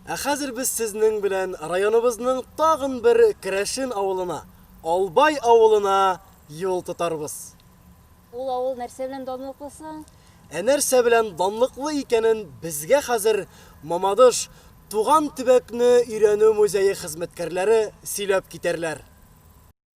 Ә хәзер без сезнең белән районыбызның тагын бер керәшен авылына, Албай авылына юл тотарбыз. Ул авыл нәрсә белән данлыклы соң? Ә нәрсә белән данлыклы икәнен безгә хәзер Мамадыш Туган төбәкне өйрәнү музее хезмәткәрләре сөйләп китәрләр.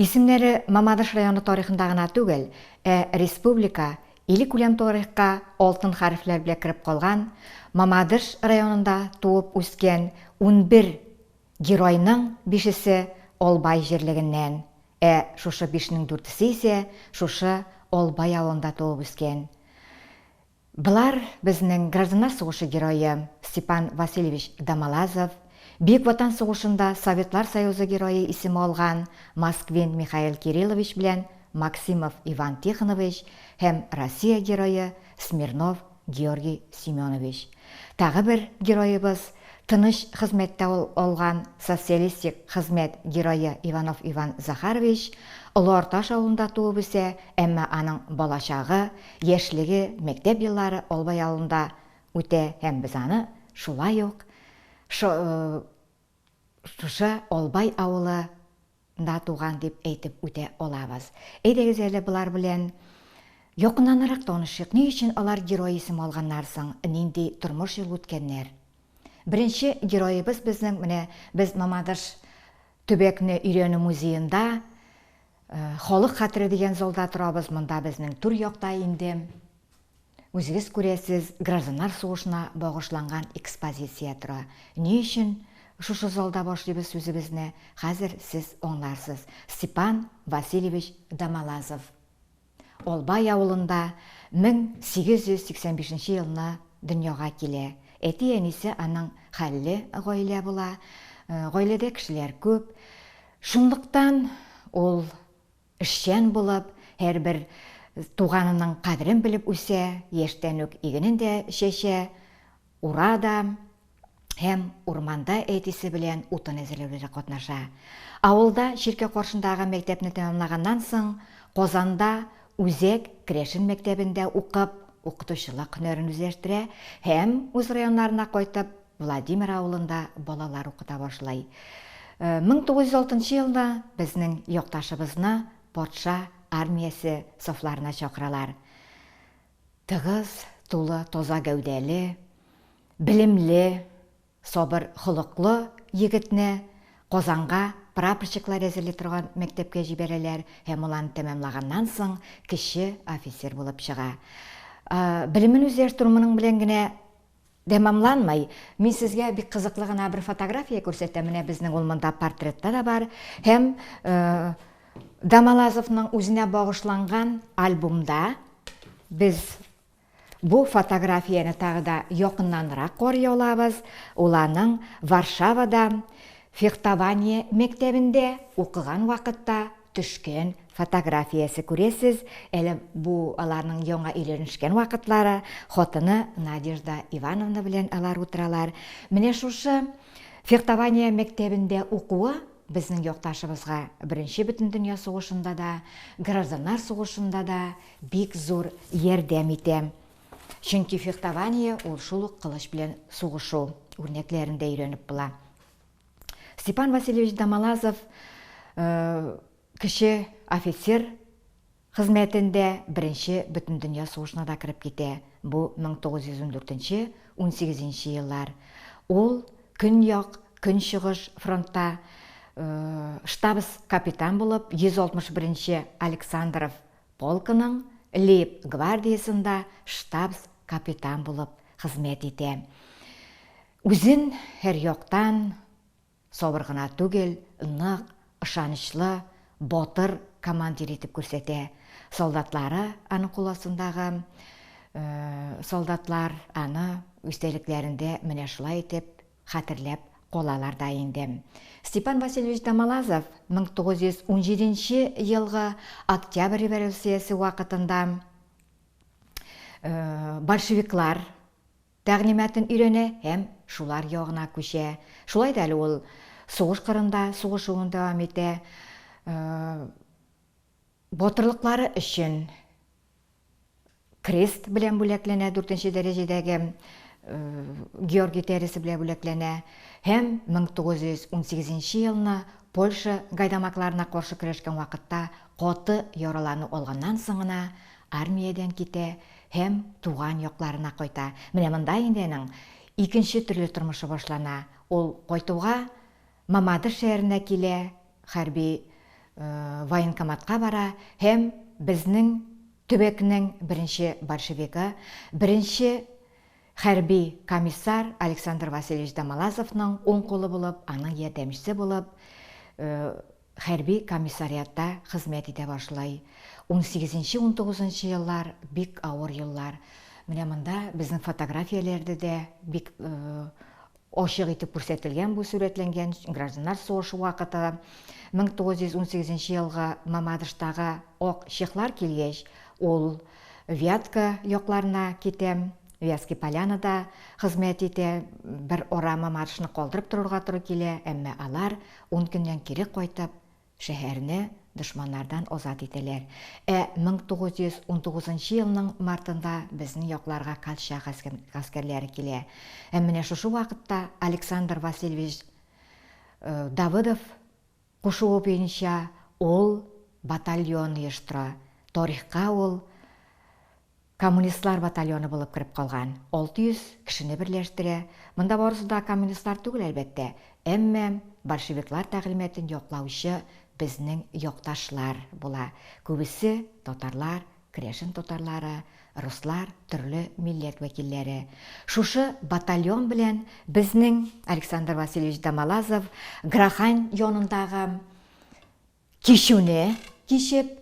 Исемнәре Мамадыш районы тарихында гына түгел, ә республика, иликүләм тарихка алтын хәрефләр белән кереп калган, Мамадыш районында туып үскән унбер геройның бишесе Албай җирлегеннән, Ә шушы бишнең дүртесе исә шушы Албай авылында туып үскән. Болар, безнең гражданнар сугышы герое Степан Васильевич Домолазов, Бөек Ватан сугышында Советлар Союзы Герое исеме алган Москвин Михаил Кириллович белән Максимов Иван Тихонович һәм Россия Герое Смирнов Георгий Семенович, тагы бер героебыз, тыныч хезмәттә ул алган социалистик хезмәт герое Иванов Иван Захарович, Олы Арташ авылында туып үсә, әмма аның балачагы, яшьлеге, мәктәп еллары Албай авылында үтә һәм без аны шулай ук шушы Албай авылы Да туган дип әйтеп үтә алабыз. Әйдәгез әле болар белән якыннанрак танышыйк, ни өчен алар герой исем алганнар соң, нинди тормыш юл үткәннәр? Беренче героебыз безнең, менә без Мамадыш төбәкне өйрәнү музеенда, Халык хәтере дигән залда торабыз, монда безнең түр якта инде. Үзегез күрәсез, гражданнар сугышына багышланган экспозиция тора. Ни өчен шушы залда башлыйбыз сүзебезне, хәзер сез аңларсыз. Степан Васильевич Домолазов. Албай авылында 1885 нче елны дөньяга килә. Әти-әнисе аның хәлле гаилә була. Гаиләдә кешеләр күп. Шунлыктан ул Эшчән булып, һәрбер туганының кадерен белеп үсә, яшьтән үк игенен дә чәчә, ура да һәм урманда, әтисе белән утын әзерләүдә дә катнаша. Авылда чиркәү каршындагы мәктәпне тәмамлаганнан соң, Казанда Үзәк керәшен мәктәбендә укып, укытучылык һөнәрен үзләштерә һәм үз районнарына кайтып, Владимир авылында балалар укыта башлый. 1906 елда безнең якташыбызны патша армиясе сафларына чакыралар. Тыгыз, тулы, таза гәүдәле, белемле, сабыр холыклы егетне Казанга прапорщиклар әзерли торган мәктәпкә җибәрәләр һәм ул аны тәмамлаганнан соң кече офицер булып чыга. Белемен үзләштерү моның белән генә Тәмамланмый. Мин сезгә бик кызыклы гына бер фотография күрсәтәм, менә безнең ул монда портретта да бар һәм Дамалазовның үзенә багышланган альбомда без бу фотографияне тагы да якыннанрак карый алабыз. Ул аның Варшавада фехтование мәктәбендә укыган вакытта төшкән фотографиясе, күрәсез, әле бу аларның яңа өйләнешкән вакытлары, хатыны Надежда Ивановна белән алар утыралар. Менә шушы фехтование мәктәбендә укуы безнең якташыбызга Беренче Бөтендөнья сугышында да, Гражданнар сугышында да бик зур ярдәм итә. Чөнки фехтование ул шул ук кылыч белән сугышу, үрнәкләрен дә өйрәнеп була. Степан Васильевич Дамалазов э, кеше офицер хезмәтендә беренче бөтендөнья сугышына да кереп китә. Бу 1914-18 еллар. Ул көньяк, көнчыгыш фронтта э, штабс капитан булып 161 Александров полкының Лейб гвардиясендә штабс капитан булып хезмәт итә. Үзен һәр яктан сабыр гына түгел, нык, ышанычлы, батыр командир итеп күрсәтә. Солдатлары, аның кул астындагы солдатлар аны истәлекләрендә менә шулай итеп хәтерләп калалар да инде. Степан Васильевич Тамалазов 1917 елгы Октябрь революциясе вакытында большевиклар Тәгълиматын өйрәнә һәм шулар ягына күчә. Шулай да әле ул сугыш кырында сугышуын дәвам итә. Батырлыклары өчен крест белән бүләкләнә, дүртенче дәрәҗәдәге Георгий тәресе белән бүләкләнә һәм 1918 елны Польша гайдамакларына каршы көрәшкән вакытта каты яралану алганнан соң гына Армиядән китә һәм туган якларына кайта. Менә монда инде аның икенче төрле тормышы башлана. Ул кайтуга Мамадыш шәһәренә килә, хәрби военкоматка бара һәм безнең төбәкнең беренче большевигы, беренче хәрби комиссар Александр Васильевич Домолазовның уң кулы булып, аның ярдәмчесе булып Хәрби комиссариатта хезмәт итә башлый. Унсигезенче-унтугызынчы еллар, бик авыр еллар. Менә монда безнең фотографияләрдә дә бик ачык итеп күрсәтелгән бу сурәтләнгән гражданнар сугышы вакыты. 1918 елга Мамадыштагы ак чехлар килгәч, ул Вятка якларына китә. Вятский Полянада хезмәт итә. Бер ара Мамадышны калдырып торырга туры килә, әмма алар Ун көннән кире кайтып, шәһәрне дошманнардан азат итәләр. Ә 1919 нчы елның мартында безнең якларга колчак гаскәрләре килә. Һәм менә шушы вакытта Александр Васильевич Давыдов кушуы буенча ул батальон оештыра. Тарихка ул Коммунистлар батальоны булып кереп калган. 600 кешене берләштерә. Монда барысы да коммунистлар түгел, әлбәттә. Әмма большевиклар тәгълиматын яклаучы безнең якташлар була. Күбесе, татарлар, керәшен татарлары, руслар, төрле милләт вәкилләре. Шушы батальон белән безнең Александр Васильевич Домолазов Грахань янындагы, Кичүне кичеп,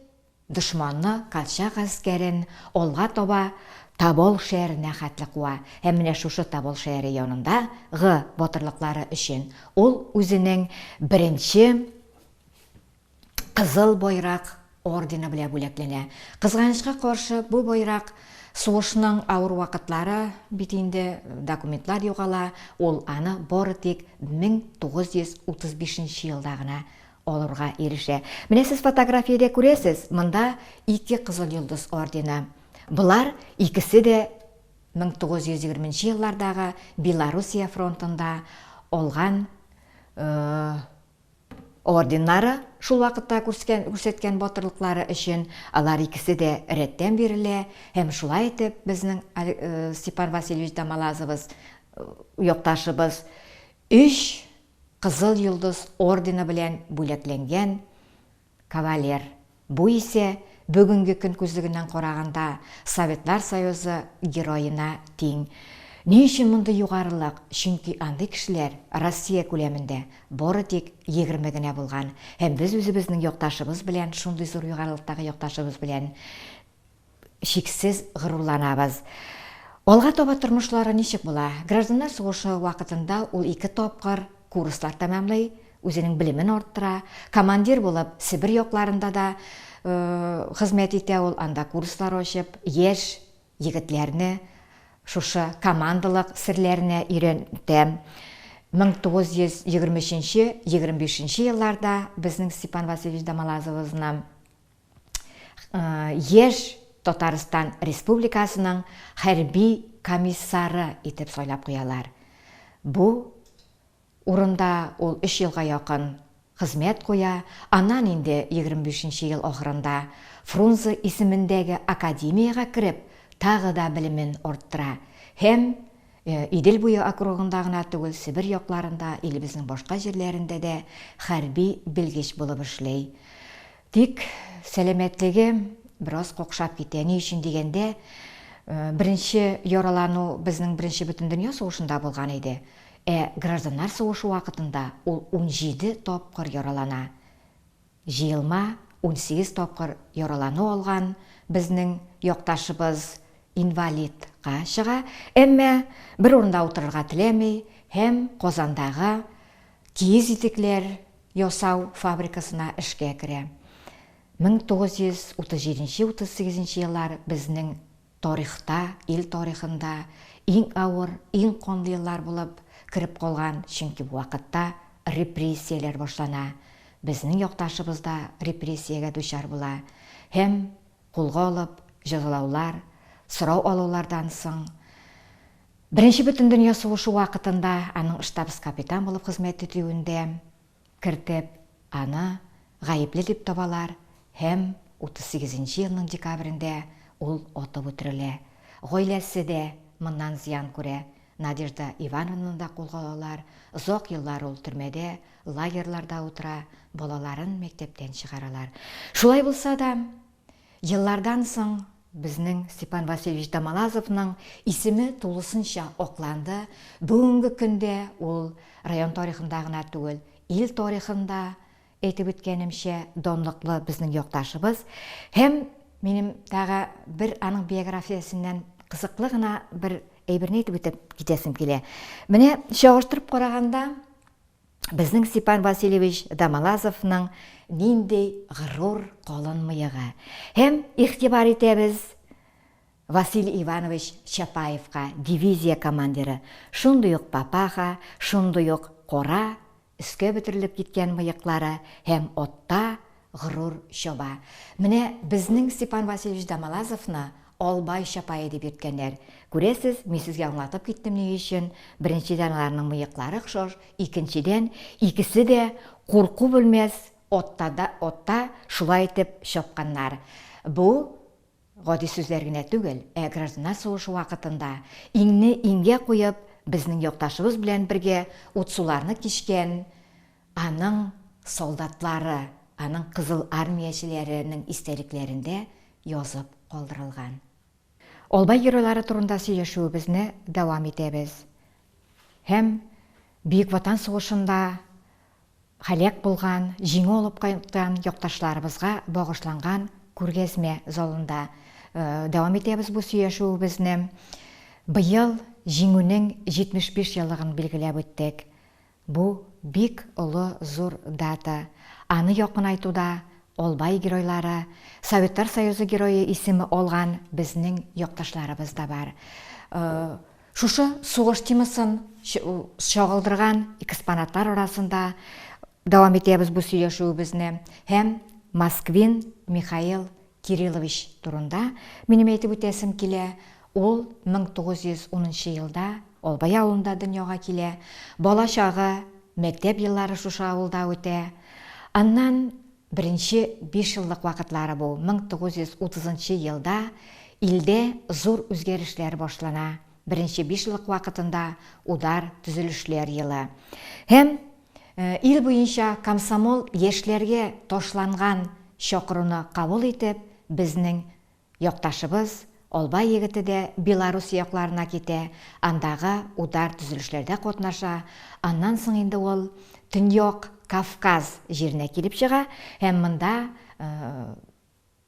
дошманны колчак гаскәрен алга таба Тобол шәяренә хәтле куа һәм менә шушы Тобол шәяре янында гы батырлыклары өчен ул үзенең беренче Кызыл Байрак ордены белә бүләкләнә. Кызганычка каршы, бу байрак сугышның авыр вакытлары бит инде документлар югала, ул аны бары тик 1935 нче елда гына алырга ирешә. Менә сез фотографиядә күрәсез, монда ике Кызыл Йолдыз ордены. Болар икесе дә 1920 нче еллардагы Белоруссия фронтында алган орденнары, шул вакытта күрсәткән батырлыклары өчен алар икесе дә рәттән бирелә һәм шулай итеп безнең Степан Васильевич да Малазовыз якташыбыз өч Кызыл Йолдыз ордены белән бүләкләнгән кавалер. Бу исә, бүгенге көн күзлегеннән караганда, Советлар Союзы Героена тиң. Ни өчен мондый югарылык? Чөнки андый кешеләр Россия күләмендә бары тик егерме генә булган. Һәм без үзебезнең якташыбыз белән, шундый зур югарылыктагы якташыбыз белән, чиксез горурланабыз. Алга таба тормышлары ничек була? Гражданнар сугышы вакытында ул ике тапкыр курслар тәмамлый, үзенең белемен арттыра. Командир булып Себер якларында да хезмәт итә ул, анда курслар ачып, яшь егетләрне шушы командалык серләренә өйрәнтә. 1923-25 елларда безнең Степан Васильевич Домолазовызны яшь Татарстан Республикасының хәрби комиссары итеп сайлап куялар. Бу урында ул өч елга якын хезмәт куя, аннан инде 25 нче ел ахырында Фрунзе исемендәге академиягә кереп, тагы да белемен арттыра һәм Идел буе округында гына түгел, Себер якларында, илебезнең башка җирләрендә дә хәрби белгеч булып эшли. Тик сәламәтлегем бераз какшап китә. Ни өчен дигәндә, беренче яралану безнең беренче Бөтендөнья сугышында булган иде. Ә гражданнар сугышы вакытында ул унҗиде тапкыр яралана. Җыелма унсигез тапкыр яралану алган безнең якташыбыз инвалидка чыга, әмма бер урында утырырга теләми һәм Казандагы киез итекләр ясау фабрикасына эшкә керә. 1937-38 еллар безнең тарихта, ил тарихында иң авыр, иң канлы еллар булып кереп калган, чөнки бу вакытта репрессияләр башлана, безнең якташыбыз да репрессиягә дучар була һәм Кулга алып, җәзалаулар, сорау алулардан соң, Беренче бөтендөнья сугышы вакытында аның штабс-капитан булып хезмәт итүендә кертеп, аны гаепле дип табалар һәм 38 нче елның декабрендә ул атып үтерелә. Гаиләсе дә моннан зыян күрә. Надежда Ивановнаны да кулга алалар, озак еллар ул төрмәдә, лагерьларда утыра, балаларын мәктәптән чыгаралар. Шулай булса да, еллардан соң безнең Степан Васильевич Домолазовның исеме тулысынча акланды, бүгенге көндә ул район тарихында гына түгел, ил тарихында Әйтеп үткәнемчә, данлыклы безнең якташыбыз һәм минем тагы бер аның биографиясеннән кызыклы гына бер әйберне әйтеп үтеп китәсем килә. Менә чагыштырып караганда, безнең Степан Васильевич Дамалазовның нинди горур калын мыегы. Һәм игътибар итәбез Василий Иванович Чапаевка, дивизия командиры, шундый ук папаха, шундый ук кора Өскә бөтерелеп киткән мыеклары һәм отта горур чаба. Менә безнең Степан Васильевич Домолазовны Албай чапае дип йөрткәннәр. Күрәсез, мин сезгә аңлатып киттем ни өчен, беренчедән аларның мыеклары охшаш, икенчедән, икесе дә курку белмәс отта шулай итеп чапканнар. Бу Гади сүзләр генә түгел, ә гражданнар сугышы вакытында иңне иңгә куеп, безнең якташыбыз белән бергә утсуларны кичкән аның солдатлары, аның кызыл армиячеләренең истәлекләрендә язып калдырылган. Албай геройлары турында сөйләшүебезне дәвам итәбез һәм Бөек Ватан сугышында һәлак булган, җиңү алып кайткан якташларыбызга багышланган күргәзмә залында дәвам итәбез бу сөйләшүебезне. Быел Җиңүнең 75 еллыгын билгеләп үттек. Бу, бик олы, зур дата. Аны якынайтуда Албай геройлары, Советлар Союзы Герое исеме алган безнең якташларыбыз да бар. Шушы сугыш темасын чагылдырган экспонатлар арасында дәвам итәбез бу сөйләшүебезне һәм Москвин Михаил Кириллович турында минем әйтеп үтәсем килә. Ул 1910 нчы елда Албай авылында дөньяга килә. Бала чагы, мәктәп еллары шушы авылда үтә. Аннан Беренче бишьеллык вакытлары бу, 1930 нчы елда илдә зур үзгәрешләр башлана, беренче бишьеллык вакытында удар, төзелешләр елы. Һәм ил буенча комсомол яшьләргә ташланган чакыруны кабул итеп, безнең Якташыбыз Албай егете дә Белоруссия якларына китә, андагы удар төзелешләрдә катнаша, аннан соң инде ул Төньяк Кавказ җиренә килеп чыга һәм монда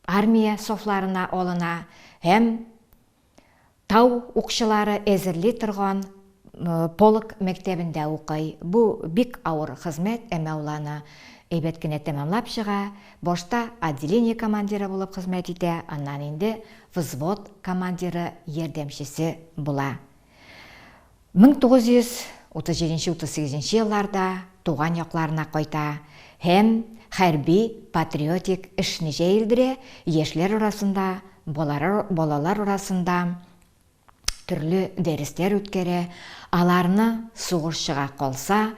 армия сафларына алына һәм Тау укчылары әзерли торган полк мәктәбендә укый. Бу бик авыр хезмәт, әмма ул аны әйбәт кенә тәмамлап чыга. Башта отделение командиры булып хезмәт итә, аннан инде взвод командиры ярдәмчесе була. 1937-38 елларда туган якларына кайта һәм хәрби-патриотик эшне җәелдерә, яшьләр арасында, балалар арасында төрле дәресләр үткәрә, аларны сугышчыга калса,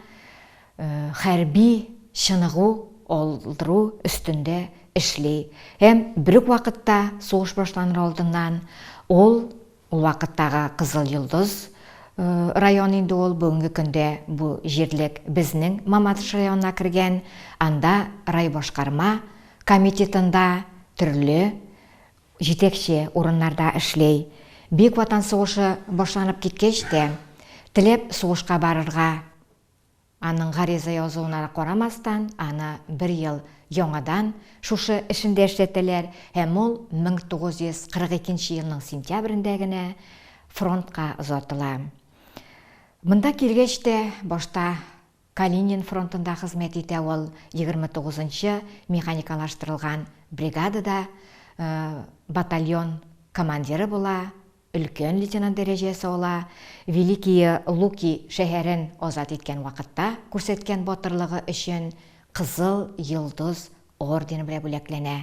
хәрби чыныгу алдыру өстендә эшли һәм бер үк вакытта сугыш башланыр алдыннан ул Ул вакыттагы Кызыл Йолдыз районы инде ул, бүгенге көндә бу җирлек безнең Мамадыш районына кергән, анда райбашкарма комитетында төрле җитәкче урыннарда эшли. Бөек Ватан сугышы башланып киткәч тә, теләп сугышка барырга. Аның гариза язуына карамастан, аны бер ел яңадан шушы эшендә эшләтәләр һәм ул 1942 елның сентябрендә генә фронтка озатыла. Монда килгәч тә, башта Калинин фронтында хезмәт итә ул, 29 нчы механикалаштырылган бригадада батальон командиры була, өлкән лейтенант дәрәҗәсе ала, Великие Луки шәһәрен азат иткән вакытта күрсәткән батырлыгы өчен Кызыл Йолдыз ордены белән бүләкләнә.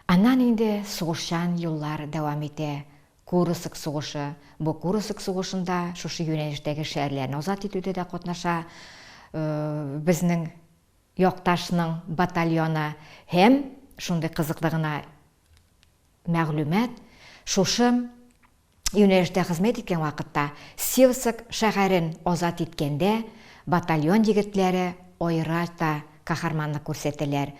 Аннан инде сугышчан юллар дәвам итә. Курыск сугышы, бу Курыск сугышында шушы юнәлештәге шәһәрләрне азат итүдә дә катнаша безнең якташның батальоны һәм шундый кызыклы гына Мәгълүмат шушы юнәлештә хезмәт иткән вакытта Севск шәһәрен азат иткәндә батальон егетләре аерача каһарманлык күрсәтәләр.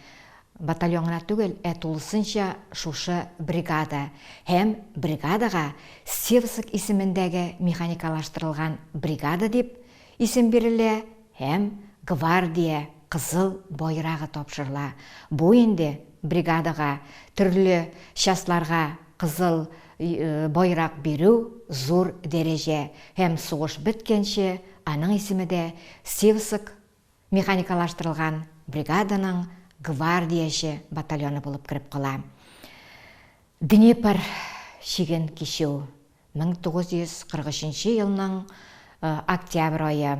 Батальон гына түгел, ә тулысынча шушы бригада һәм бригадага Севск исемендәге механикалаштырылган бригада дип исем бирелә, һәм Гвардия Кызыл Байрагы тапшырыла, бу инде бригадага, төрле частьларга Кызыл Байрак бирү зур дәрәҗә һәм сугыш беткәнче аның исеме дә Сивск механикалаштырылган бригаданың гвардияче батальоны булып кереп кала. Днепр чиген кичү 1943 елның октябрь ае.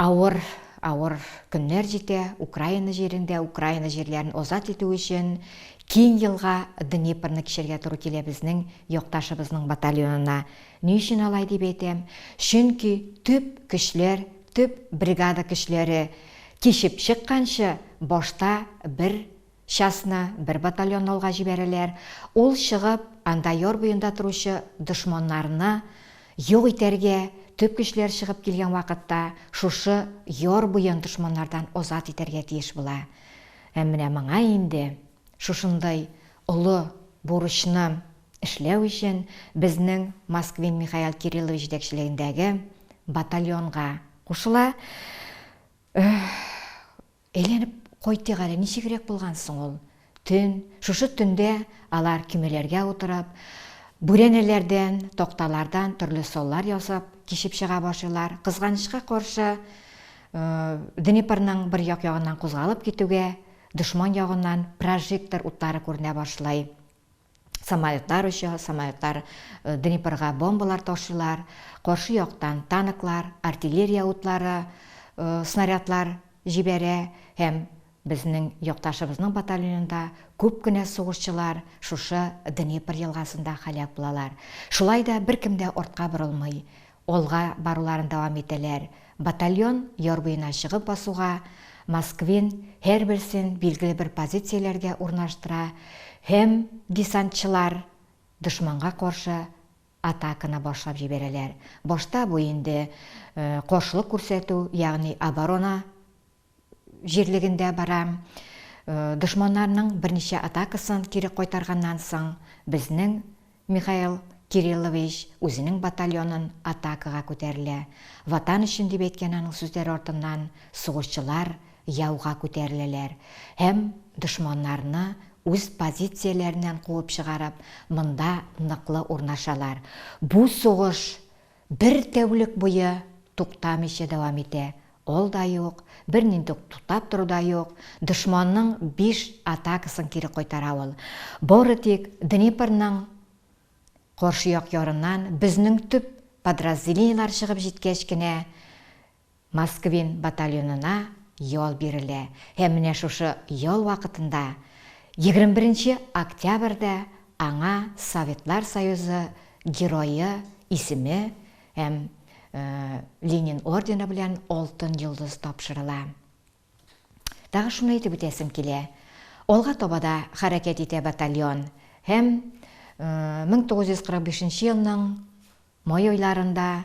Авыр, авыр көннәр җитә Украина җирендә. Украина җирләрен азат итү өчен киң елга Днепрны кичәргә туры килә безнең якташыбызның батальонына. Ни өчен алай дип әйтәм? Чөнки төп көчләр, төп бригада көчләре кичеп чыкканчы, башта бер Частьны бер батальон алга җибәрәләр, ул чыгып, анда яр буенда торучы дошманнарны юк итәргә, төп көчләр чыгып килгән вакытта шушы яр буен дошманнардан азат итәргә тиеш була. Һәм менә моңа инде, шушындый олы бурычны эшләү өчен безнең Москвин Михаил Кириллович җитәкчелегендәге батальонга кушыла. Әйләнеп кайтыйк әле, ничегрәк булган соң ул төн? Шушы төндә алар көймәләргә утырып, бүрәнәләрдән, такталардан төрле саллар ясап, кичеп чыга башлыйлар. Кызганычка каршы, Днепрның бер як ягыннан кузгалып китүгә, дошман ягыннан прожектор утлары күренә башлый. Самолетлар оча, самолетлар Днепрга бомбалар ташыйлар, каршы яктан танклар, артиллерия утлары, снарядлар җибәрә һәм безнең якташыбызның батальонында күп кенә сугышчылар шушы Днепр елгасында халәк булалар. Шулай да беркем дә артка борылмый. Алга баруларын дәвам итәләр. Батальон яр буена чыгып басуга, Москвин һәрберсен билгеле бер позицияләргә урнаштыра һәм десантчылар дошманга каршы атаканы башлап җибәрәләр. Башта бу инде каршылык күрсәтү, ягъни оборона җирлегендә бара. Дошманнарның берничә атакасын кире кайтарганнан соң, безнең Михаил Кириллович үзенең батальонын атакага күтәрелә. Ватан өчен дип әйткән аның сүзләре артыннан сугышчылар яуга күтәреләләр һәм дошманнарны үз позицияләреннән куып чыгарып, монда ныклы урнашалар. Бу сугыш Бер тәүлек буе туктамыйча дәвам итә, ол да юк, бернинди үк туктап тору да юк, дошманның биш атакасын кире кайтара ул. Бары тик Днепрның каршы як ярыннан безнең төп подразделениеләр чыгып җиткәч кенә Москвин батальонына ял бирелә һәм менә шушы ял вакытында, 21 нче октябрьдә аңа Советлар Союзы Герое исеме һәм Ленин ордены белән Алтын йолдыз тапшырыла. Тагы шуны әйтеп үтәсем килә, алга таба да хәрәкәт итә батальон һәм 1945 елның май айларында,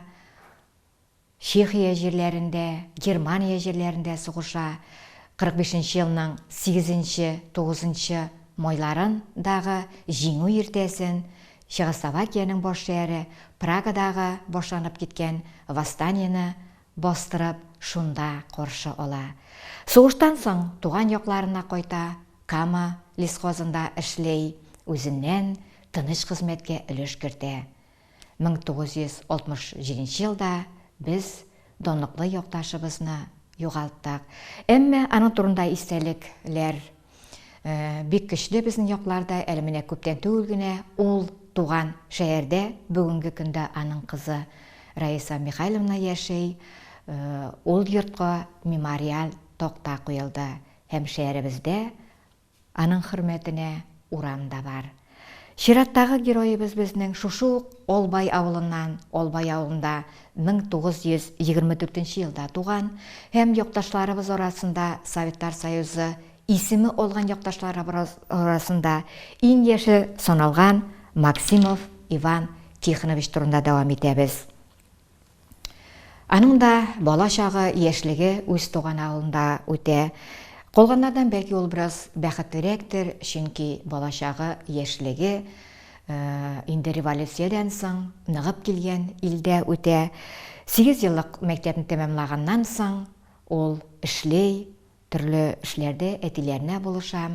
Чехия җирләрендә, Германия җирләрендә сугыша, 45 нче елның сигезенче, тугызынчы майларын дагы Җиңү иртәсен Чехословакиянең баш шәһәре Прагадагы башланып киткән восстаниене бастырып шунда каршы ала. Сугыштан соң туган якларына кайта, Кама лесхозында эшли, үзеннән тыныч хезмәткә өлеш кертә. 1967 елда без данлыклы якташыбызны югалттык. Әмма аның турында истәлекләр бик көчле безнең якларда. Әле менә күптән түгел генә ул туган шәһәрдә бүгенге көндә аның кызы Раиса Михайловна яши. Ул йортка мемориаль такта куелды һәм шәһәребездә Аның хөрмәтенә урам да бар. Чираттагы героебыз безнең шушы ук Албай авылыннан, Албай авылында 1924 елда туган һәм якташларыбыз арасында Советлар Союзы исеме алган якташларыбырыз арасында иң яше саналган Максимов Иван Тихонович турында дәвам итәбез. Аның да бала чагы, яшьлеге үз туган авылында үтә. Калганнардан бәлки ул бераз бәхетлерәктер, чөнки бала чагы, яшьлеге инде революциядән соң ныгып килгән илдә үтә. Сигез еллык мәктәпне тәмамлаганнан соң ул эшли, төрле эшләрдә әтиләренә булыша,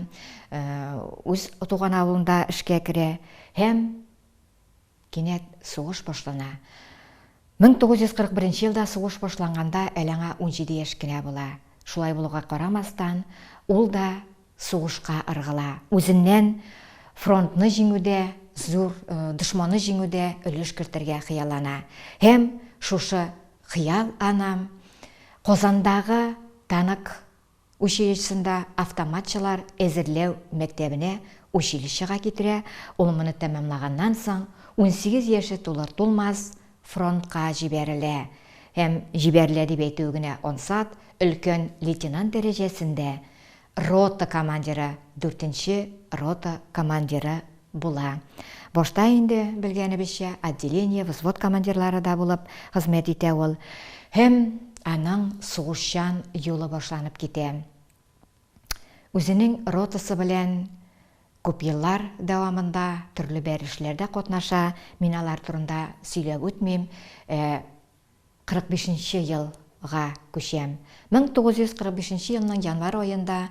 үз туган авылында эшкә керә һәм Кинәт сугыш башлана. 1941 елда сугыш башланганда әле аңа унҗиде яшь кенә була. Шулай булуга карамастан, ул да сугышка ыргыла. Үзеннән фронтны җиңүдә, зур дошманны җиңүдә өлеш кертергә хыяллана. Һәм шушы хыял анам Казандагы танк Училищесында автоматчылар әзерләү мәктәбенә училищега китерә, ул моны тәмамлаганнан соң, унсигез яше тулыр-тулмас, фронтка җибәрелә һәм, җибәрелә дип әйтүе генә ансат, өлкән лейтенант дәрәҗәсендә рота командиры, дүртенче рота командиры Була. Башта инде, белгәнебезчә, отделение, взвод командирлары да булып хезмәт итә ул. Һәм аның сугышчан юлы башланып китә. Үзенең ротасы белән күп еллар дәвамында төрле бәр эшләрдә катнаша, мин алар турында сөйләп үтмим. Ә Кырык бишенче ел га күчәм. Мең тугыз йөз кырык бишенче елның январь аенда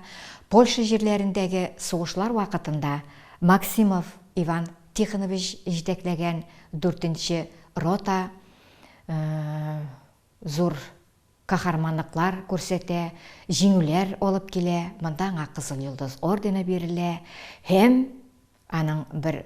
Польша җирләрендәге сугышлар вакытында Максимов Иван Тихонович җитәкләгән дүртенче рота зур каһарманлыклар күрсәтә, җиңүләр алып килә, монда аңа Кызыл Йолдыз ордены бирелә һәм аның бер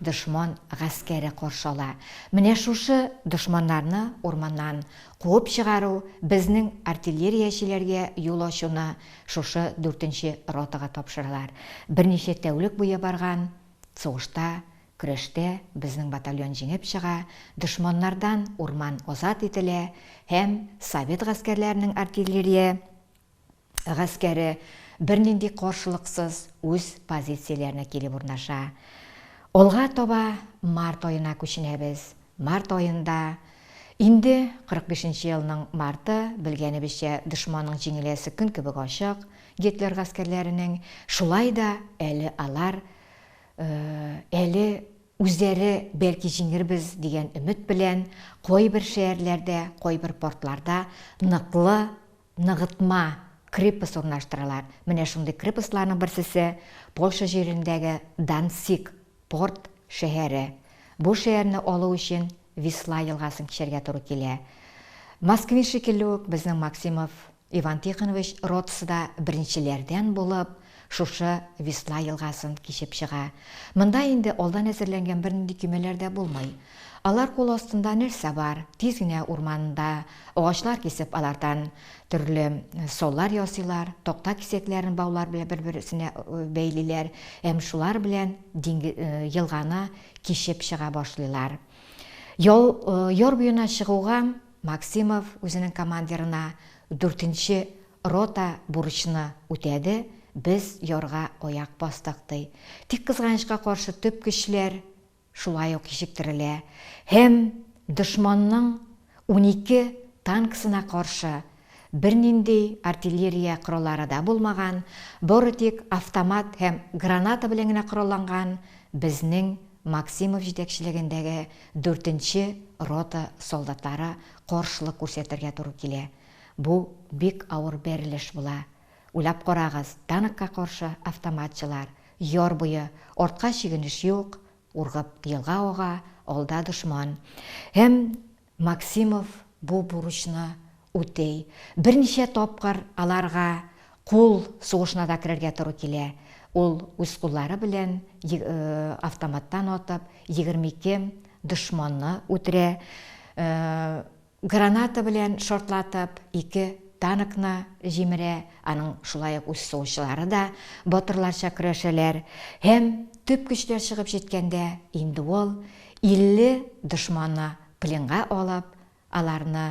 Дошман гаскәре каршы ала. Менә шушы дошманнарны урманнан куып чыгару, безнең артиллериячеләргә юл ачуны шушы дүртенче ротага тапшыралар. Берничә тәүлек буе барган сугышта, көрәштә безнең батальон җиңеп чыга, дошманнардан урман азат ителә һәм совет гаскәрләренең артиллерия. гаскәре бернинди каршылыксыз үз позицияләренә килеп урнаша. Алга таба март аена күченәбез. Март аенда, инде 45 нче елның марты, белгәнебезчә, дошманның җиңеләсе көн кебек ачык, Гитлер гаскәрләренең, шулай да әле алар, әле үзләре, бәлки җиңербез дигән өмет белән, кайбер шәярләрдә, кайбер портларда ныклы, ныгытма, крепость урнаштыралар. Менә шундый крепостьларның берсесе, Польша җирендәге Данциг, порт, шәһәре. Бу шәһәрне алу өчен Висла елгасын кичәргә туры килә. Москвин шикелле үк, безнең Максимов Иван Тихонович ротасы да беренчеләрдән булып, Шушы Весна елгасын кичеп чыга. Монда инде алдан әзерләнгән бернинди көймәләр дә булмый. Алар кул астында нәрсә бар, тиз генә урманда агачлар кисеп, алардан төрле саллар ясыйлар, такта кисәкләрен баулар белән бер-берсенә бәйлиләр һәм шулар белән елганы кичеп чыга башлыйлар. Яр буена чыгуга Максимов үзенең командирына дүртенче рота бурычны үтәде, без ярга аяк бастык, ди. Тик кызганычка каршы төп көчләр шулай ук кичектерелә һәм дошманның унике танкысына каршы Бернинди артиллерия кораллары да булмаган, бары тик автомат һәм граната белән генә коралланган безнең Максимов җитәкчелегендәге дүртенче рота солдатлары каршылык күрсәтергә туры килә. Бу бик авыр бәрелеш була. Уйлап карагыз, танкка каршы автоматчылар, яр буе, артка чигенеш юк, ургып елга ага, алда дошман һәм. Максимов бу бурычны үти. Берничә тапкыр аларга кул сугышына да керергә туры килә. Ул үз куллары белән автоматтан атып, егерме ике дошманны үтерә. Граната белән шартлатып, ике танкны җимерә. Аның шулай ук үз сугышчылары да батырларча көрәшәләр. Һәм төп көчләр чыгып җиткәндә, инде ул 50 дошманны пленга алып, аларны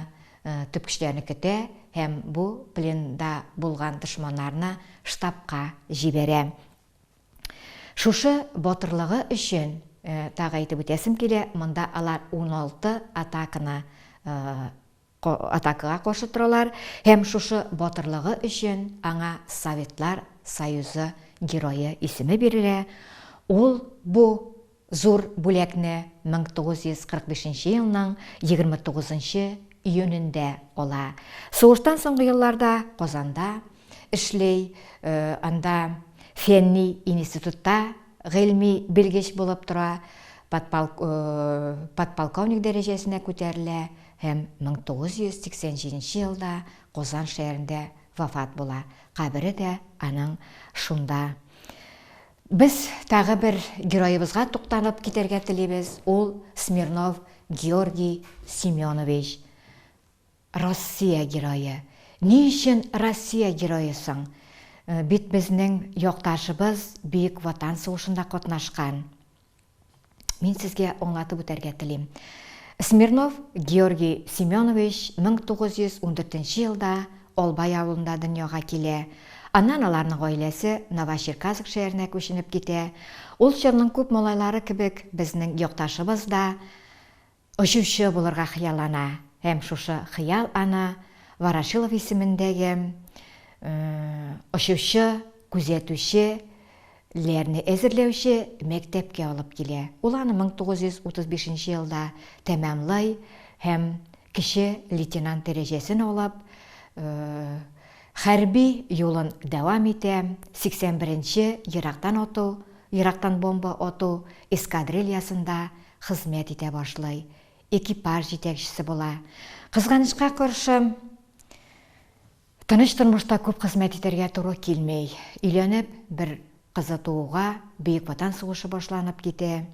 төп көчләрне көтә һәм бу пленда булган дошманнарны штабка җибәрә. Шушы батырлыгы өчен тагы әйтеп үтәсем килә, монда алар 16 атаканы атакага каршы торалар һәм шушы батырлыгы өчен аңа Советлар Союзы Герое исеме бирелә, ул бу зур бүләкне 1945 нче елның 29 нчы июнендә ала. Сугыштан соңгы елларда Казанда эшли, анда фәнни институтта гыйльми белгеч булып тора, подполковник дәрәҗәсенә күтәрелә, Һәм 1987 елда Козан шәһәрендә вафат була. Кабере дә аның шунда. Без тагы бер героебызга тукталып китәргә телибез, ул Смирнов Георгий Семенович. Россия герое. Ни өчен Россия герое соң? Бит безнең якташыбыз Бөек Ватан сугышында катнашкан. Мин сезгә аңлатып үтәргә телим. Смирнов Георгий Семенович 1914 елда Албай авылында дөньяга килә. Аннан аларның гаиләсе Новочеркасск шәһәренә күченеп китә. Ул чорның күп малайлары кебек, безнең якташыбыз да Очучы булырга хыяллана һәм шушы хыял аны Ворошилов исемендәге очучы, күзәтүче, ләрне әзерләүче мәктәпкә алып килә. Ул аны 1935 нче елда тәмамлый һәм кече лейтенант дәрәҗәсен алып, хәрби юлын дәвам итә, 81 нче ерактан ату, ерактан бомба ату эскадрильясында Хезмәт итә башлый, экипаж җитәкчесе була. Кызганычка каршы, тыныч тормышта күп хезмәт итәргә туры килми. Өйләнеп, бер кызы тууга, Бөек Ватан сугышы башланып китә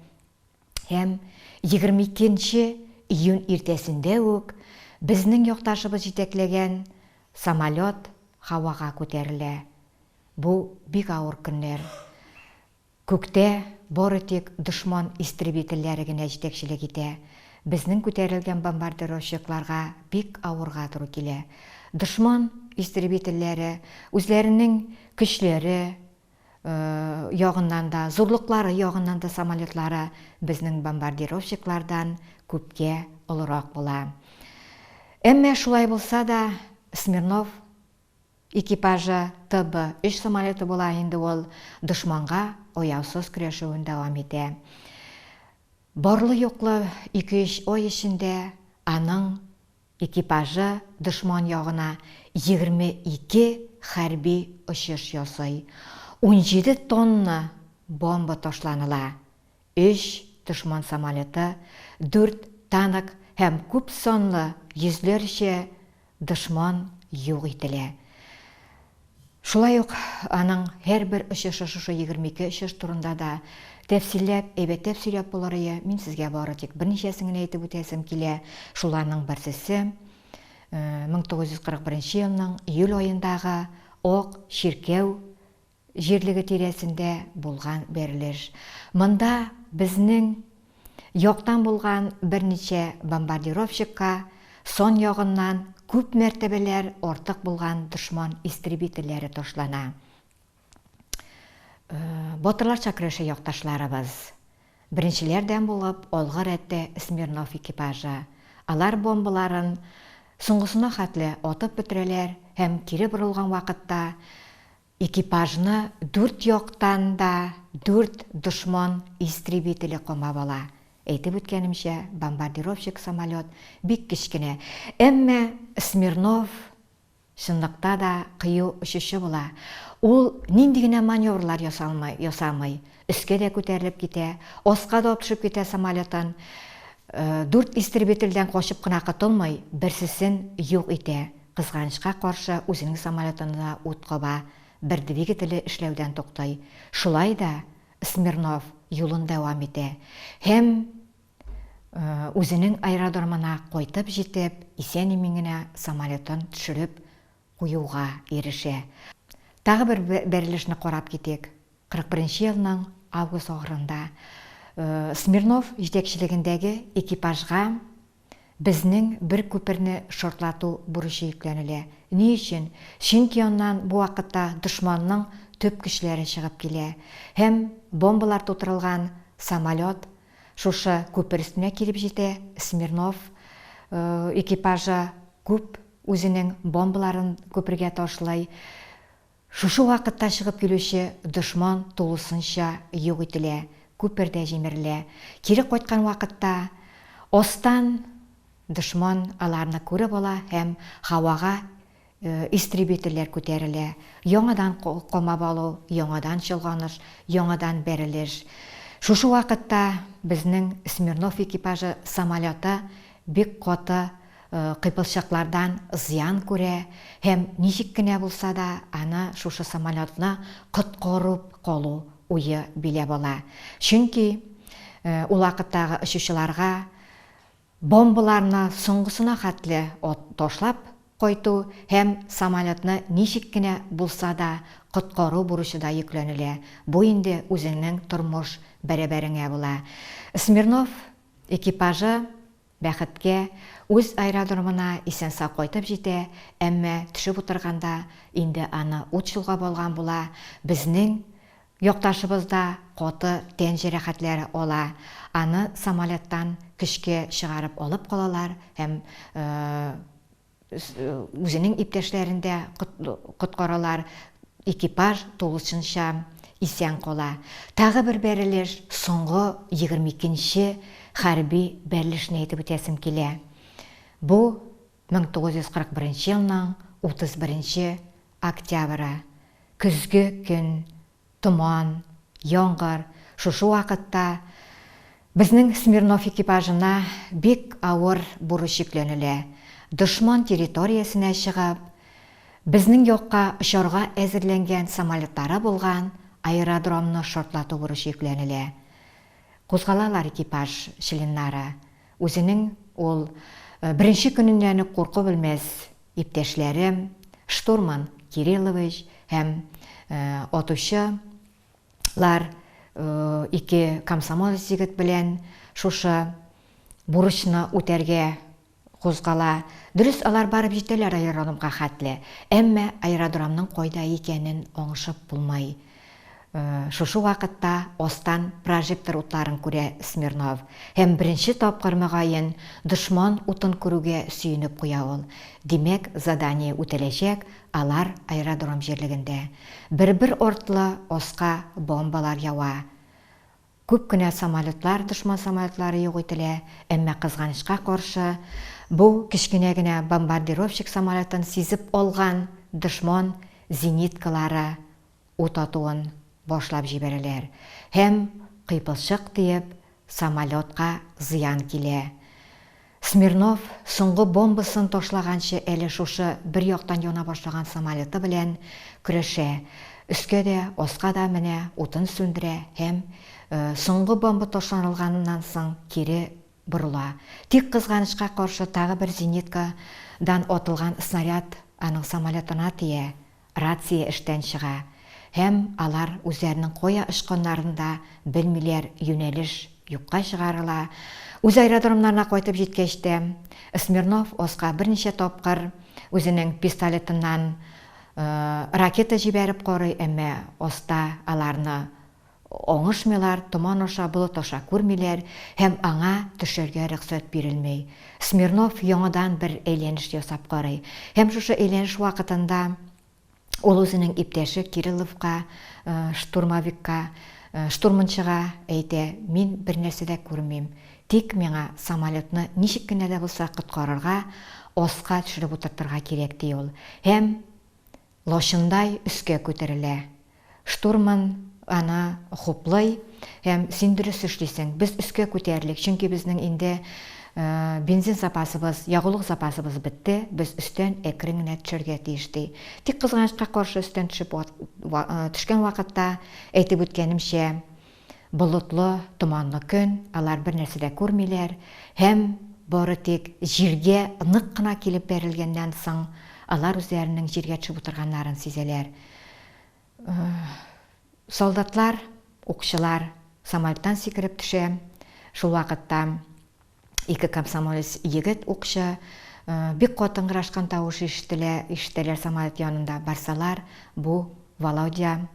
һәм 22 нче июнь иртәсендә үк безнең якташыбыз җитәкләгән самолет һавага күтәрелә. Бу бик авыр көннәр. Күктә бары тик дошман истребительләре генә җитәкчелек итә. Безнең күтәрелгән бомбардировщикларга бик авырга туры килә. Дошман истребительләре үзләренең көчләре ягыннан да, зурлыклары ягыннан да самолетлары безнең бомбардировщиклардан күпкә олырак була. Әмма шулай булса да, Смирнов Экипажы ТБ өч самолеты була инде ул дошманга аяусыз көрәшүен дәвам итә. Барлы-юклы ике-өч ай эчендә аның экипажы дошман ягына егерме ике хәрби очыш ясый, унҗиде тонна бомба ташланыла, Өч дошман самолеты, дүрт танк һәм күп санлы йөзләрчә дошман юк ителә. Шулай ук аның һәрбер очышы шушы егерме ике очыш турында да тәфсилләп, әйбәтләп сөйләп булырые, мин сезгә бары тик берничәсен генә әйтеп үтәсем килә, шуларның берсесе, мең тугыз йөз кырык беренче елның июль аендагы Ак чиркәү җирлеге тирәсендә булган бәрелеш. Монда безнең яктан булган берничә бомбардировщикка сан ягыннан күп мәртәбәләр артык булган дошман истребительләре ташлана. Батырларча көрәшә якташларыбыз. Беренчеләрдән булып алгы рәттә Смирнов экипажы. Алар бомбаларын соңгысына хәтле атып бетерәләр һәм кире борылган вакытта Экипажны дүрт яктан да дүрт дошман истребителе камап ала. Әйтеп үткәнемчә, бомбардировщик самолет бик кечкенә. Әмма Смирнов, чынлыкта да, кыю очучы була. Ул нинди генә маневрлар ясалмый, ясамый, Өскә дә күтәрелеп китә, аска да атышып китә самолетан. Дүрт истребительдән качып кына котылмый, берсесен юк итә. Кызганычка каршы, үзенең самолетына да ут каба, бер двигателе эшләүдән туктый. Шулай да Смирнов юлын дәвам итә һәм үзенең аэродромына кайтып җитеп, исән-имин генә самолетын төшереп куюга ирешә. Тагы бер бәрелешне карап китик. 41-нче елның август ахырында Смирнов җитәкчелегендәге экипажга безнең бер күперне шартлату бурычы йөкләнелә. Ни өчен? Чөнки аннан бу вакытта дошманның төп көчләре чыгып килә һәм бомбалар тутырылган самолет шушы күпер өстенә килеп җитә, Смирнов экипажы күп Үзенең бомбаларын күпергә ташлый. Шушы вакытта чыгып килүче дошман тулысынча юк ителә, күпер дә җимерелә. Кире кайткан вакытта астан дошман аларны күреп ала һәм һавага истребительләр күтәрелә. Яңадан камап алу, яңадан чолганыш, яңадан бәрелеш. Шушы вакытта безнең Смирнов экипажы самолеты бик каты кыйпылчыклардан зыян күрә һәм ничек кенә булса да аны шушы самолетны коткарып калу уе биләп ала. Чөнки ул вакыттагы очучыларга бомбаларны соңгысына хәтле ташлап кайту һәм самолетны ничек кенә булса да коткару бурычы да йөкләнелә, бу инде үзеңнең тормыш бәрабәреңә була. Смирнов Экипажы, бәхеткә, үз аэродромына исән-сау кайтып җитә, әмма төшеп утырганда инде аны ут чолгап алган була, безнең якташыбыз да каты тән җәрәхәтләре ала, аны самолеттан көчкә чыгарып алып калалар һәм үзенең иптәшләрен дә коткаралар, экипаж тулысынча исән кала. Тагы бер бәрелеш, соңгы 22 нче хәрби бәрелешне әйтеп үтәсем килә. Бу 1941 елның 31 октябре, көзге көн Томан, яңгыр шушы вакытта безнең Смирнов экипажына бик авыр бурыч йөкләнелә, дошман территориясенә чыгып, безнең якка очарга әзерләнгән самолетлары булган аэродромны шартлату бурычы йөкләнелә. Кузгалалар экипаж членнары. Үзенең ул беренче көненнән үк курку белмәс Иптәшләре, штурман Кириллович һәм атучы лар ике комсомолец егет белән шушы бурычны үтәргә кузгала. Дөрес, алар барып җитәләр аэродромга хәтле, әмма аэродромның кайда икәнен аңышып булмай. Шушы вакытта астан прожектор утларын күрә Смирнов һәм беренче тапкыр, мөгаен, дошман утын күрүгә сөенеп куя ул. Димәк, задание үтәләчәк, алар аэродром җирлегендә. Бер-бер артлы аска бомбалар ява. Күп кенә самолетлар, дошман самолетлары юк ителә, әмма кызганычка каршы, бу кечкенә генә бомбардировщик самолетын сизеп алган дошман зениткалары ут атуын башлап җибәрәләр һәм кыйпылчык тиеп, самолетка зыян килә. Смирнов соңгы бомбасын ташлаганчы әле шушы бер яктан яна башлаган самолеты белән көрәшә, өскә дә, аска да менә, утын сүндерә һәм соңгы бомба ташланылганыннан соң кире борыла. Тик кызганычка каршы тагы бер зенитка дан атылган снаряд аның самолетына тия, Рация эштән чыга һәм алар үзләренең кая очканнарын да белмиләр, юнәлеш юкка чыгарыла. Үз аэродромнарына кайтып җиткәч тә, Смирнов Оска берничә тапкыр үзенең пистолетыннан ракета җибәреп карый, әмма Оста аларны Оңышмыйлар, томан аша, болыт аша күрмиләр һәм аңа төшәргә рөхсәт бирелми. Смирнов яңадан бер әйләнеш ясап карый һәм шушы әйләнеш вакытында ул үзенең иптәше Кирилловка, штурмовикка, штурманчыга әйтә, Мин бернәрсә дә күрмим, тик миңа самолетны ничек кенә дә булса коткарырга, аска төшереп утыртырга кирәк, ди ул һәм Лачындай өскә күтәрелә. Штурман аны хуплый һәм, Син дөрес эшлисең. Без өскә күтәрелик, чөнки безнең инде бензин запасыбыз, ягулык запасыбыз бетте, без өстән әкрен генә төшәргә тиеш, ди. Тик, кызганычка каршы, өстән төшеп төшкән вакытта, әйтеп үткәнемчә, болытлы, томанлы көн, алар бернәрсә дә күрмиләр һәм бары тик җиргә нык кына килеп бәрелгәннән соң алар үзләренең җиргә төшеп утырганнарын сизәләр. Солдатлар, укчылар самолеттан сикереп төшә, шул вакытта. Ике комсомолец егет укчы, бик каты ыңгырашкан тавыш ишетелә, ишетәләр самолет янында барсалар, бу Володя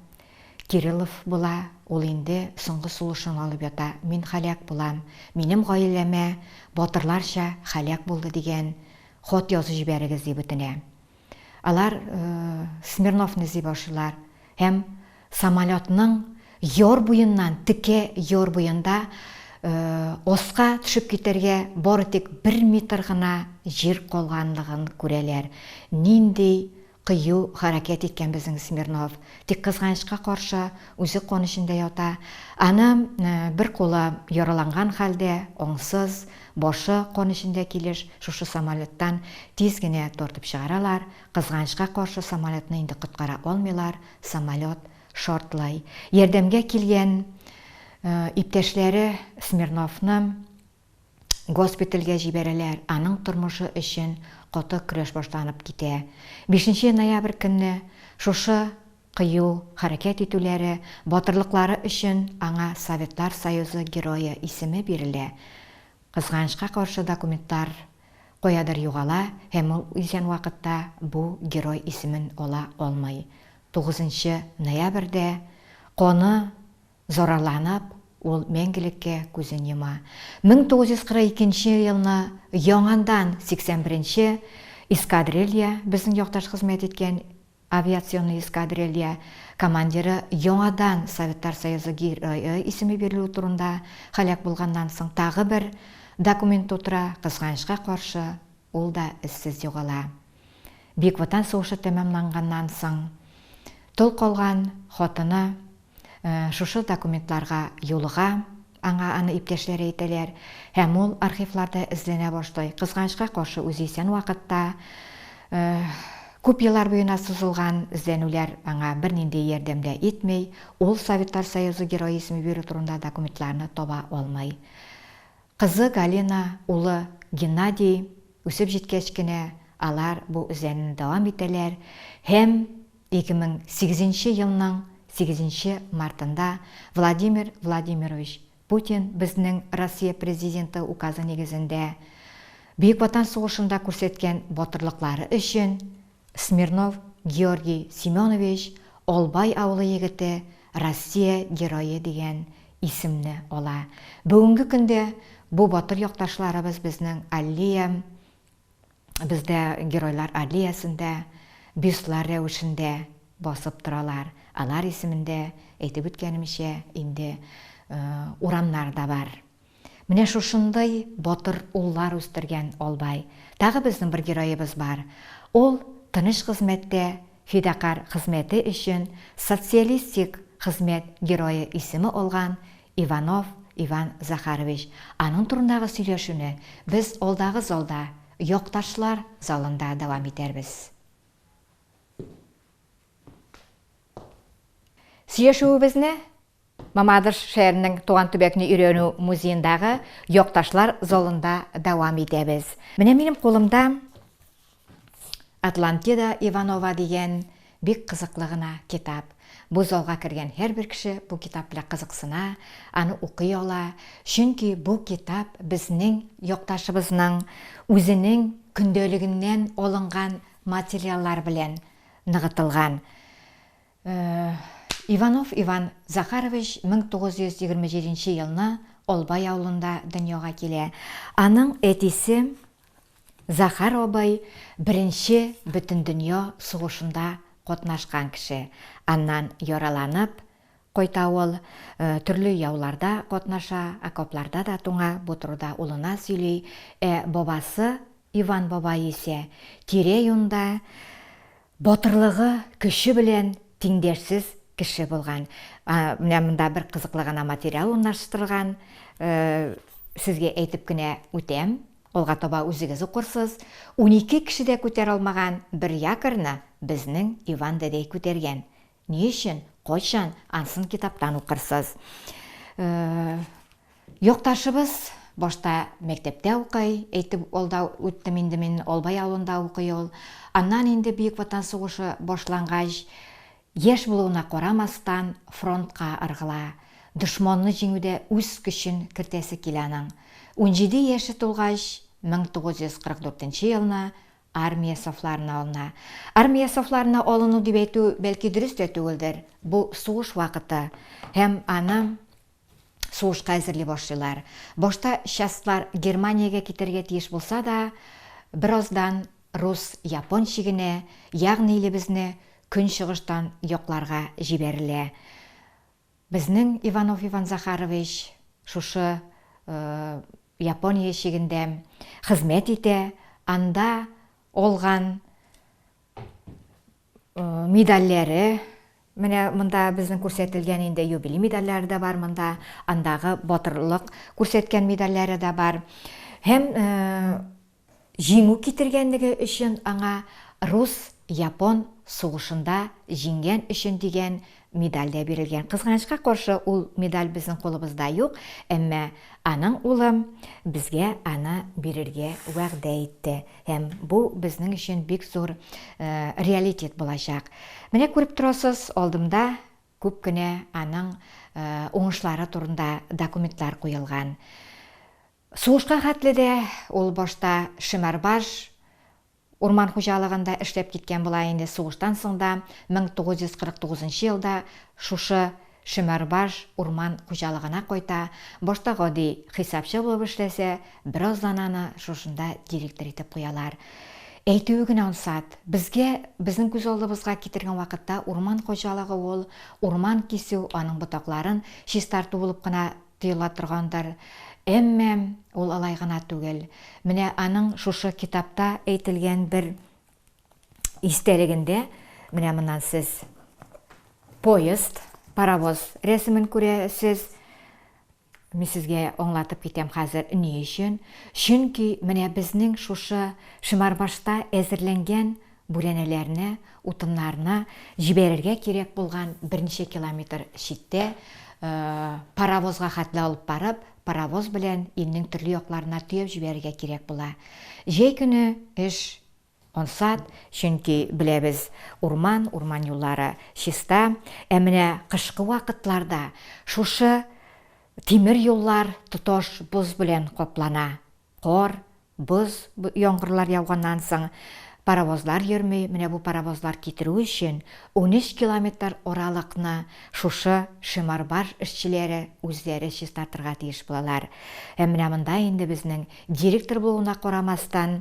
Кириллов була, ул инде соңгы сулышын алып ята, мин һәлак булам, минем гаиләмә батырларча һәлак булды дигән хат язып җибәрегез дип үтенә. Алар Смирновны эзли башлыйлар һәм самолетның яр буеннан, текә яр буенда аска төшеп китәргә бары тик бер метр гына җир калганлыгын күрәләр. Нинди кыю хәрәкәт иткән безнең Смирнов! Тик кызганычка каршы, үзе кан эчендә ята. Аны бер кулы яраланган хәлдә, аңсыз, Башы кан эчендә килеш шушы самолеттан тиз генә тартып чыгаралар, кызганычка каршы самолетны инде коткара алмыйлар, самолет шартлый. Ярдәмгә килгән иптәшләре Смирновны госпитальгә җибәрәләр, аның тормышы өчен каты көрәш башланып китә. Бишенче ноябрь көнне шушы Кыю хәрәкәт итүләре, батырлыклары өчен аңа Советлар Союзы Герое исеме бирелә. Кызганычка каршы документлар каядыр югала һәм ул исән вакытта бу Герой исемен ала алмый. Тугызынчы ноябрьдә, каны зарарланып, ул мәңгелеккә күзен йома. Мең тугыз йөз кырык икенче елны яңандан сиксән беренче эскадрилья, безнең якташ хезмәт иткән Авиационный эскадрилья командиры яңадан Советлар Союзы Герое исеме бирелүе турында һәлак булганнан соң тагы бер документ тутыра, кызганычка каршы, ул да эзсез югала. Бөек Ватан сугышы тәмамланганнан соң тол калган хатыны Шушы документларга юлыга, аңа аны иптәшләре әйтәләр, һәм ул архивларда эзләнә башлый. Кызганычка каршы, үзе исән вакытта, күп еллар буена сузылган эзләнүләр аңа бернинди ярдәм дә итми, ул Советлар Союзы Герое исеме бирү турында документларны таба алмый. Кызы Галина, улы Геннадий үсеп җиткәч кенә, алар бу эзләнүне дәвам итәләр һәм. 2008 нче елның 8 нче мартында Владимир Владимирович Путин безнең Россия Президенты Указы нигезендә Бөек Ватан сугышында күрсәткән батырлыклары өчен Смирнов Георгий Семенович, Албай авылы егете, Россия Герое дигән исемне ала. Бүгенге көндә бу батыр якташларыбыз безнең Аллея, Бездә геройлар аллеясында бюстлар рәвешендә басып торалар. Алар исемендә, әйтеп үткәнемчә, инде урамнар да бар. Менә шушындый батыр уллар үстергән Албай. Тагы безнең бер героебыз бар. Ул тыныч хезмәттә фидакарь хезмәте өчен социалистик хезмәт герое исеме алган Иванов Иван Захарович, аның турындагы сөйләшүне без алдагы залда, якташлар залында дәвам итәрбез. Сөйләшүебезне Мамадыш шәһәренең Туган төбәкне өйрәнү музеендагы якташлар залында дәвам итәбез. Менә минем кулымда Атлантида Иванова дигән бик кызыклы гына китап. Бу залга кергән һәрбер кеше бу китап белән кызыксына, аны укый ала, чөнки бу китап безнең якташыбызның үзенең көндәлегеннән алынган материаллар белән ныгытылган. Иванов Иван Захарович 1927 елны Олбай авылында дөньяга килә. Аның әтисе Захар абый беренче бөтендөнья сугышында катнашкан кеше. Аннан яраланып кайта ул, төрле яуларда катнаша, окопларда да туңа, бу турыда улына сөйли. Ә бабасы Иван бабай исә тирә-юньдә Батырлыгы, көче белән тиңдәшсез кеше булган. Менә монда бер кызыклы гына материал урнаштырылган. Сезгә әйтеп кенә үтәм. Алга таба үзегез укырсыз. Унике кеше дә күтәрә алмаган бер якорьны безнең Иван дәдәй күтәргән, Ни өчен, кайчан, ансын китаптан укырсыз. Якташыбыз башта мәктәптә укый, әйтеп алда үттем инде мин, Албай авылында укый ул. Аннан инде Бөек Ватан сугышы башлангач, яшь булуына карамастан, фронтка ыргыла. Дошманны җиңүдә үз көчен кертәсе килә аның. Унҗиде яше тулгач, 1944 елны Армия сафларына алына. Армия сафларына алыну дип әйтү, бәлки, дөрес тә түгелдер. Бу сугыш вакыты һәм аны сугышка әзерли башлыйлар. Башта частьлар Германиягә китәргә тиеш булса да, бераздан рус-япон чигенә, ягъни илебезне көнчыгыштан якларга җибәрелә. Безнең Иванов Иван Захарович шушы Япония чигендә хезмәт итә, анда алган медальләре, менә монда безнең күрсәтелгән инде юбилей медальләре дә бар монда, андагы батырлык күрсәткән медальләре дә бар. Һәм Җиңү китергәнлеге өчен аңа Рус, Япон сугышында җиңгән өчен дигән медаль дә бирелгән. Кызганычка каршы, ул медаль безнең кулыбызда юк, әмма аның улы безгә аны бирергә вәгъдә итте. Һәм бу безнең өчен бик зур реалитет булачак. Менә күреп торасыз, алдымда күп кенә аның уңышлары турында документлар куелган. Сугышка хәтле дә ул башта Шемәрбаш урман хуҗалыгында эшләп киткән була инде, сугыштан соң да 1949 нчы елда шушы Шемәрбаш урман хуҗалыгына кайта, башта гади хисапчы булып эшләсә, бераздан аны шушында директор итеп куялар. Әйтүе генә ансат, безгә, безнең күз алдыбызга китергән вакытта урман хуҗалыгы ул, урман кисү, аның ботакларын чистарту булып кына тоела торгандыр. Әмма ул алай гына түгел. Менә аның шушы китапта әйтелгән бер истәлегендә, менә моннан сез поезд, паровоз рәсемен күрәсез. Мин сезгә аңлатып китәм хәзер ни өчен. Чөнки менә безнең шушы Шимарбашта әзерләнгән Бүрәнәләрне, утыннарны җибәрергә кирәк булган берничә километр читтә, паровозга хәтле алып барып, паровоз белән илнең төрле якларына төяп җибәрергә кирәк була. Җәй көне эш ансат, чөнки, беләбез, урман, урман юллары чиста. Ә менә кышкы вакытларда шушы тимер юллар тоташ боз белән каплана. Кар, боз яңгырлар яуганнан соң, паровозлар йөрми, менә бу паровозлар китерү өчен унөч километр аралыкны шушы Шеморбарж эшчеләре үзләре чистартырга тиеш булалар. Һәм менә монда инде безнең директор булуына карамастан,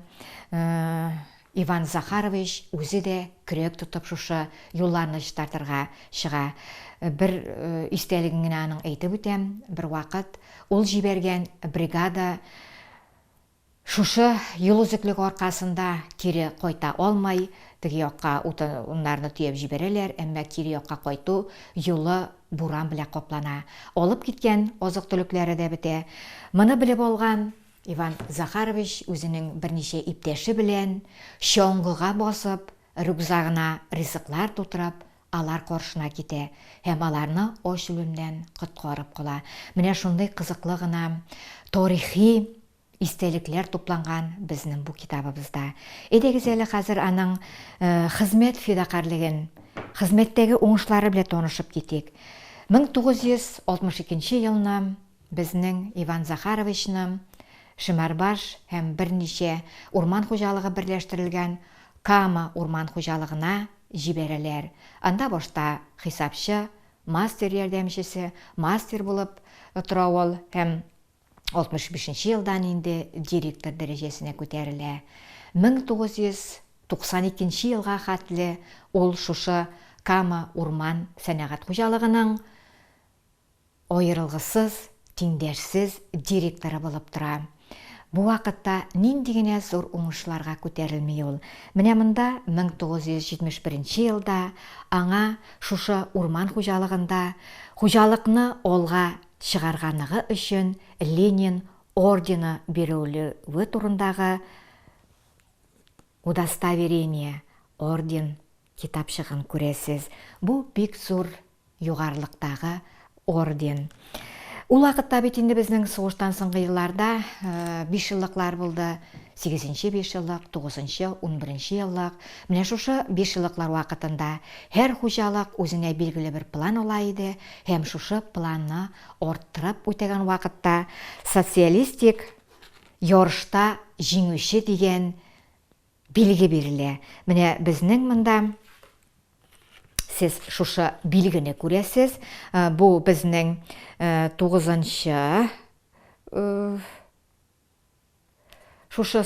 Иван Захарович үзе дә көрәк тотып шушы юлларны чистартырга чыга. Бер истәлеген генә аның әйтеп үтәм, бервакыт ул җибәргән бригада шушы юл өзеклеге аркасында кире кайта алмай, теге якка утыннарны төяп җибәрәләр, әмма кире якка кайту юлы буран белән каплана. Алып киткән азык-төлекләре дә бетә. Моны белеп алган Иван Захарович үзенең берничә иптәше белән, чоңгыга басып, рюкзагына ризыклар тутырып, алар каршына китә һәм аларны ач үлемнән коткарып кала. Менә шундый кызыклы гына тарихи истәлекләр тупланган безнең бу китабыбызда. Әйдәгез әле хәзер аның хезмәт фидакарьлеген, хезмәттәге уңышлары белән танышып китик. 1962 елны Безнең Иван Захаровичны Шемәрбаш һәм берничә урман хуҗалыгы берләштерелгән Кама урман хуҗалыгына җибәрәләр. Анда башта хисапчы, мастер ярдәмчесе, мастер булып тора ул һәм 65 нче елдан инде директор дәрәҗәсенә күтәрелә. 1992 нче елга хәтле ул шушы Кама урман сәнәгать хуҗалыгының Аерылгысыз, тиңдәшсез директоры булып тора. Бу вакытта нинди генә зур уңышларга күтәрелми ул. Менә монда 1971 елда аңа шушы урман хуҗалыгында хуҗалыкны алга чыгарганыгы өчен Ленин ордены бирелүе турындагы Удостоверение, орден, китапчыгын күрәсез. Бу бик зур Югарылыктагы орден. Ул вакытта бит инде безнең сугыштан соңгы елларда бишьеллыклар булды. Сигезенче бишьеллык, тугызынчы, унберенче еллык. Менә шушы бишьеллыклар вакытында һәр хуҗалык үзенә билгеле бер план ала иде һәм шушы планны арттырып үтәгән вакытта социалистик ярышта җиңүче дигән Билге бирелә. Менә безнең монда сез шушы билгене күрәсез. Э, бу безнең э, тугызынчы э, шушы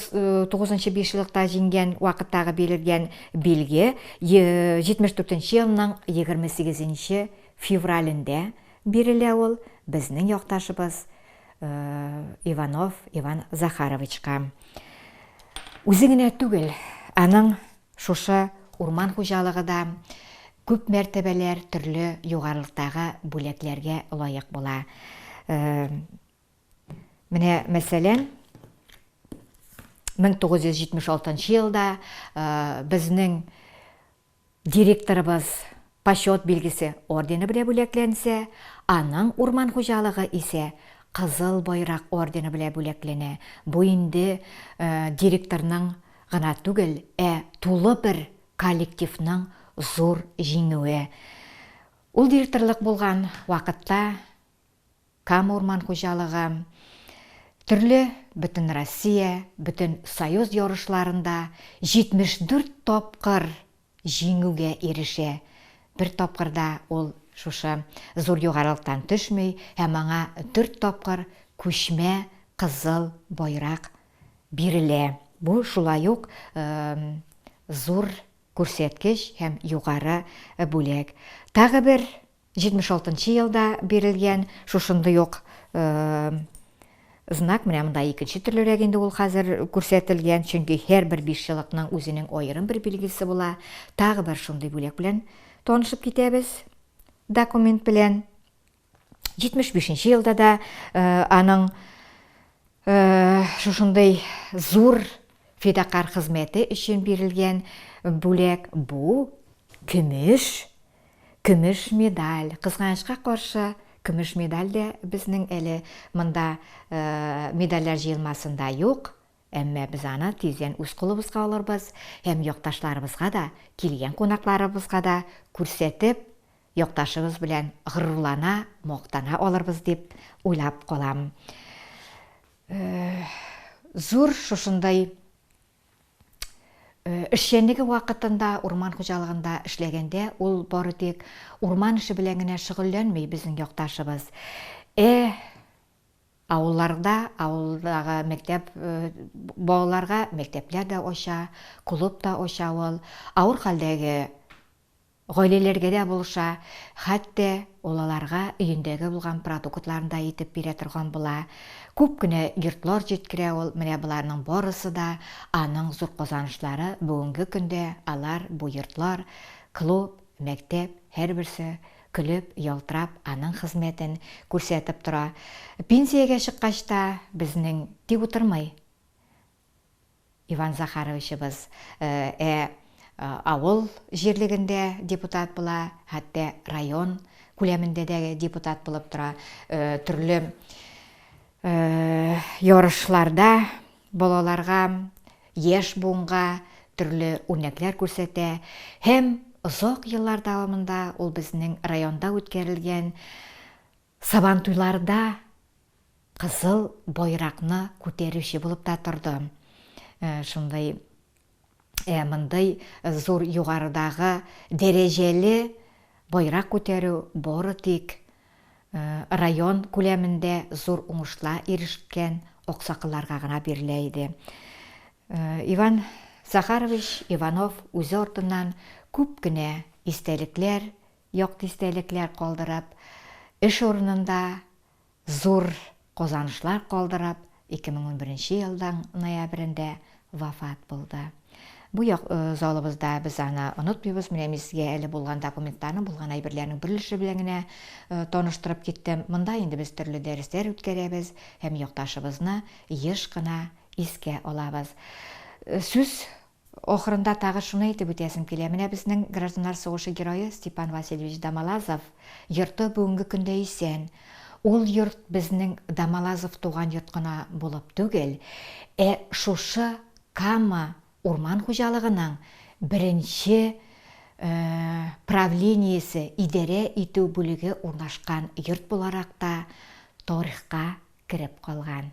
тугызынчы бишьеллыкта җиңгән вакыттагы бирелгән билге 74 елның 28 февралендә бирелә ул безнең якташыбыз Иванов Иван Захаровичка. Үзе генә түгел, аның шушы урман хуҗалыгы да күп мәртәбәләр төрле югарылыктагы бүләкләргә лаек була. Менә мәсәлән, 1976 елда безнең Директорыбыз Почет билгесе ордены белән бүләкләнсә, аның урман хуҗалыгы исә Кызыл байрак ордены белән бүләкләнә. Бу инде директорның гына түгел, ә тулы бер коллективның зур җиңүе. Ул директорлык булган вакытта Кама урман хуҗалыгы, төрле Бөтенроссия, Бөтенсоюз ярышларында 74 тапкыр җиңүгә ирешә. Бер тапкыр да ул шушы зур югарылыктан төшми һәм аңа дүрт тапкыр күчмә кызыл байрак бирелә. Бу шулай ук зур күрсәткеч һәм югары бүләк. Тагы бер 76 нчы елда бирелгән шушындый ук знак, менә монда икенче төрлерәк инде ул хәзер күрсәтелгән, чөнки һәрбер бишьелыкның үзенең аерым бер билгесе була. Тагы бер шундый бүләк белән танышып китәбез. Документ белән 75 нче елда да аның шушындый зур фидакарь хезмәте өчен бирелгән бүләк бу көмеш Көмеш медаль, кызганычка каршы, көмеш медаль дә безнең әле монда медальләр җыелмасында юк, әмма без аны тиздән үз кулыбызга алырбыз һәм якташларыбызга да, килгән кунакларыбызга да күрсәтеп, якташыбыз белән горурлана, мактана алырбыз дип уйлап калам. Зур шушындай Э, эшчәнлеге вакытында урман хуҗалыгында эшләгәндә ул бары тик урман эше белән генә шөгыльләнми безнең якташыбыз. Э, авылларда, авылдагы мәктәп э, балаларга мәктәпләр дә ача, клуб та ача ул. Авыр хәлдәге Гаиләләргә дә булыша, хәтта ул аларга өендәге булган продуктларын да итеп бирә торган була. Күп кенә йортлар җиткерә ул, менә боларның барысы да аның зур казанышлары, бүгенге көндә алар, бу йортлар, клуб, мәктәп, һәрберсе, көлеп, ялтырап, аның хезмәтен күрсәтеп тора. Пенсиягә чыккач та безнең тик утырмый. Иван Захаровичыбыз Ә авыл җирлегендә депутат була, хәтта район күләмендә дә депутат булып тора, төрле ярышларда балаларга, яшь буынга төрле үрнәкләр күрсәтә һәм озак еллар дәвамында ул безнең районда үткәрелгән Сабантуйларда кызыл байракны күтәрүче булып та тордым. Шундый мондый зур югарыдагы дәрәҗәле байрак күтәрү бары тик район күләмендә зур уңышла ирешкән аксакылларга гына бирелә иде. Иван Захарович Иванов үзе артыннан күп кенә истәлекләр Як дистәлекләр калдырып, эш урынында зур казанышлар калдырып, 2011 нче елның ноябрендә вафат булды. Бу як залыбызда без аны онытмыйбыз. Менә мин сезгә әле булган документларны, булган әйберләрнең берлеше белән генә таныштырып киттем. Монда инде без төрле дәресләр үткәрәбез һәм якташыбызны еш кына искә алабыз. Сүз Ахырында тагы шуны әйтеп үтәсем килә, менә безнең гражданнар сугышы герое Степан Васильевич Домолазов йорты бүгенге көндә исән. Ул йорт безнең Домолазов туган йорт кына булып түгел, ә шушы Кама урман хуҗалыгының беренче правлениесе, идарә итү бүлеге урнашкан йорт буларак та тарихка кереп калган.